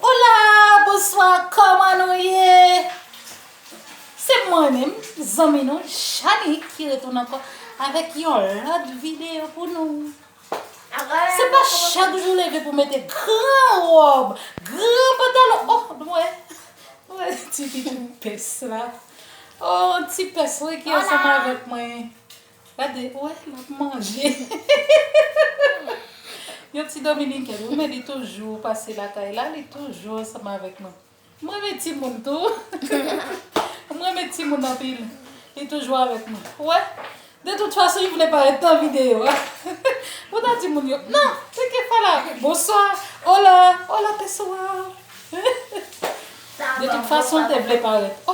Hola bonswa kòman nou ye se mwen menm zanmi nou Janik ki retounen ankò avèk yon lòt video pou nou se pa chak jou leve pou mete gran wòb gran pantalon oh m wè m wè ti pès la oh ti pès wi ki ansanm avèk mwen. Gade ou wè lap manje. Yon ti dominiken wi men li toujou pase lakay la li toujou ansanm avèk nou. M renmen timoun tou. M renmen timoun anpil. Li toujou avèk nou. Ou wè de tout fason li vle parèt nan videyo a. Ou ta di moun yo nan se kefala bonswa ola ola pessoal. De tout fason te vle parèt.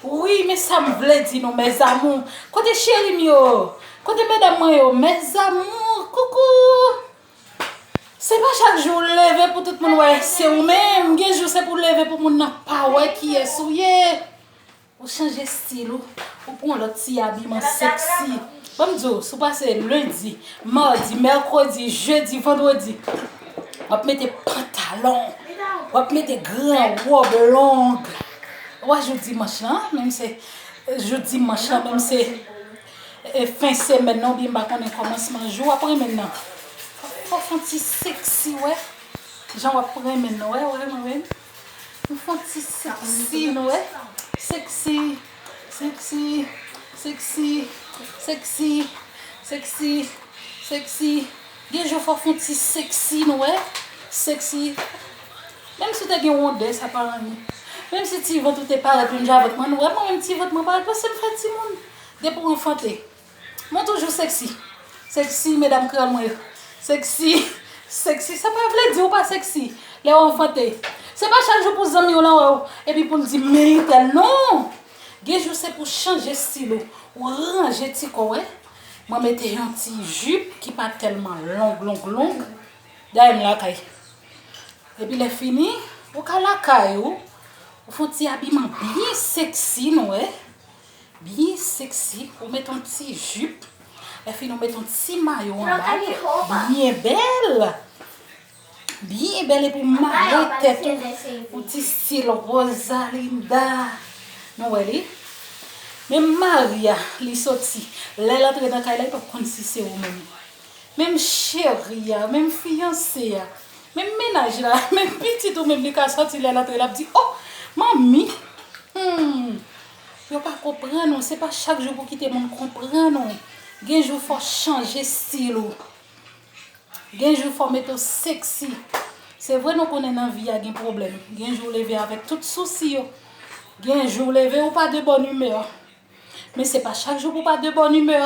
Wouyy men sam vle di nou mes amours kote cheri m yo kote medam mwen yo mes amours coucou se pa chak jou ou leve pou tout moun wè se ou menm gen jou se pou leve pou moun nan pa wè kiyes ou ye ou chanje stil ou ou pran yon lot ti abiman sexy banm di w si w pase lundi mardi mercredi jeudi vendredi wap mete pantalon wap mete gran robe longue. Wa jou dimanch lan menm se jou dimanch lan menm se fen semèn nan oubyen m pa konnen kòmansman jou wap renmen nan. Fò fon ti seksi wè jan wap renmen nan wè wè mwen menm. Nou fon ti seksi nou wè seksi seksi seksi seksi seksi seksi. Gen jou fò fon ti sexy nou wè sexy menm si w te gen rondè sa pa anyen menm si ti vant ou te parèt menm jan avèk mwen nou wè mwen menm ti vant mwen parèt paske m fè timoun depi w anfante mwen toujou sexy sexy medam kreyòl mwen yo sexy sexy sa pa vle di ou pa sexy lè w anfante se pa chak jou pou zanmi w lan wè w epi pou l di men itèl non gen jou se pou chanje stil ou ou ranje ti kò w wè Mwen mete yon ti jup ki pa telman long long long. Dayè m lakay. Epi lè fini, ou ka lakay ou, ou fon ti abiman byen sexy nou wè. Byen sexy. Ou met yon ti jup. Lè fini ou met yon ti mayo anba l. Byen bèl. Byen bèl epi mare tèt ou pou ti stil Rosalinda. Nou wè li? Men Maria li soti. Lè l antre nan kay la li pap konn si se ou menm. Menm cheri a, menm fiyanse a, menm menaj la, menm pitit ou menm li ka soti lè l antre l ap di oh manmi humm yo pa konprann ou se pa chak jou pou kite moun konprann ou. Gen jou fò chanje stil ou. Gen jou fò mete w sexy Se vre nou konnen nan vi a gen pwoblèm Gen jou w leve avèk tout sousi yo Gen jou w leve ou pa de bòn imè Men se pa chak jou pou w pa de bòn imè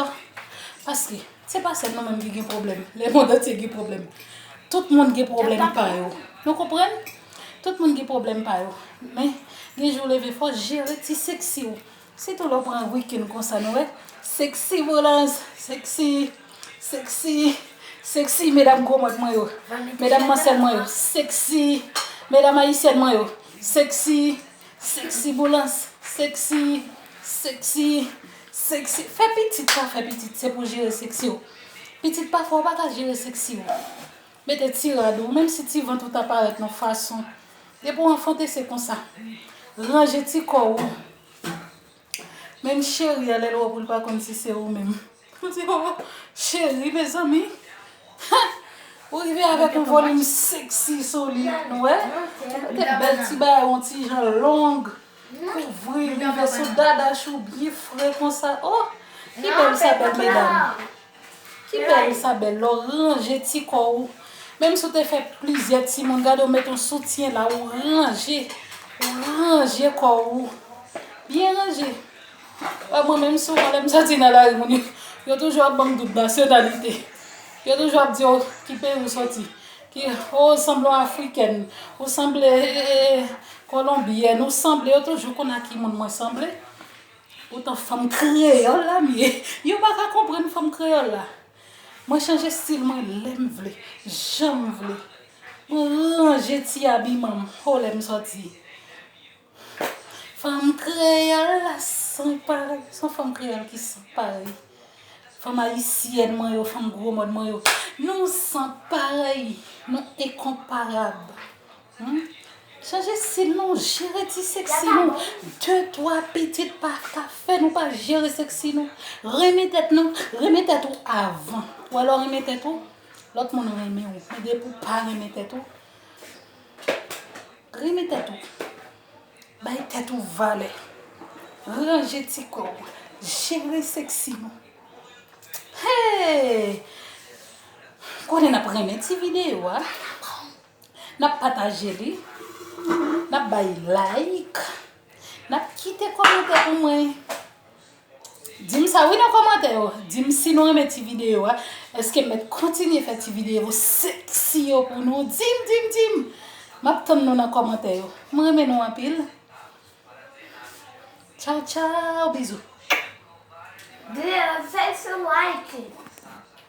Paske se pa sèl nou menm ki gen pwoblèm Le mond antye gen pwoblèm Tout moun gen pwoblèm pa yo Nou konprann Tout moun gen pwoblèm pa yo Men gen jou w leve fò w jere ti sexy w Sitou lè w pran week-end konsa nou wè sexy Volanges sexy sexy sexy medam gwo mòd mwen yo medam mansèl mwen yo sexy medam ayisyèn mwen yo sexy sexy Boulans sexy sexy sexy fè pitit sa fè pitit se pou jere sexy w pitit pafwa w pa ka jere sexy w Mete ti rad ou, menm si ti vant ou ta parèt nan fason, depi ou anfante se konsa. Ranje ti kò ou, menm cheri a lè l wè w pou l pa konn si se ou menm. Ou di oo, cheri mezanmi, ha! Ou rive avèk yon volim seksi sou li, nou wè? Ou mete bèl ti bagay yon ti jan long, kouvri rive sou dadash ou byen fre konsa, oo! Ki bèl sa bèl medam! Ki bèl sa bèl lè w ranje ti kò ou menm si w te fè plizyè timoun gade w met yon soutyen la ou ranje ou ranje kò ou byen ranje wè mwen menm souvan lè m soti nan lari moun yo toujou ap ban m dout nasyonalite yo toujou ap di yo ki peyi ou soti ki o sanble yon afrikèn ou sanble kolonbyèn ou sanble yo toujou konn a ki moun mwen sanble. Poutan fanm kreyol la m ye. Yo pa ka konprann fanm kreyol la. Mwen chanje stil mwen lem vle, janm vle. Mwen ranje ti abiman m ho lem soti. Fanm kreyol la san parey. Son fanm kreyol ki san parey. Fanm ayisyèn mwen yo, fanm gwo mòn mwen yo. Nou san parey, nou enkonparab. Humm chanje stil nou jere ti sexy nou de twa pitit pa ka fè nou pa jere sexy nou renmen tèt nou renmen tèt ou avan ou wè lè ou renmen tèt ou lòt moun renmen ou men depi ou pa renmen tèt ou renmen tèt ou bay tèt ou valè ranje ti kò ou jere sexy nou hee konnen nap renmen ti video a. Nap pataje li. Nap bay like. Nap kite komante pou mwen. Dim sa wi nan komante yo. Dim si nou renmen ti video a. Eske met kontinye fe ti video seksi yo pou nou. Dim, dim, dim. Map tann nou nan komante yo. Mwen renmen nou anpil. Chow, chow. Bizou. Dim, thanks for liking.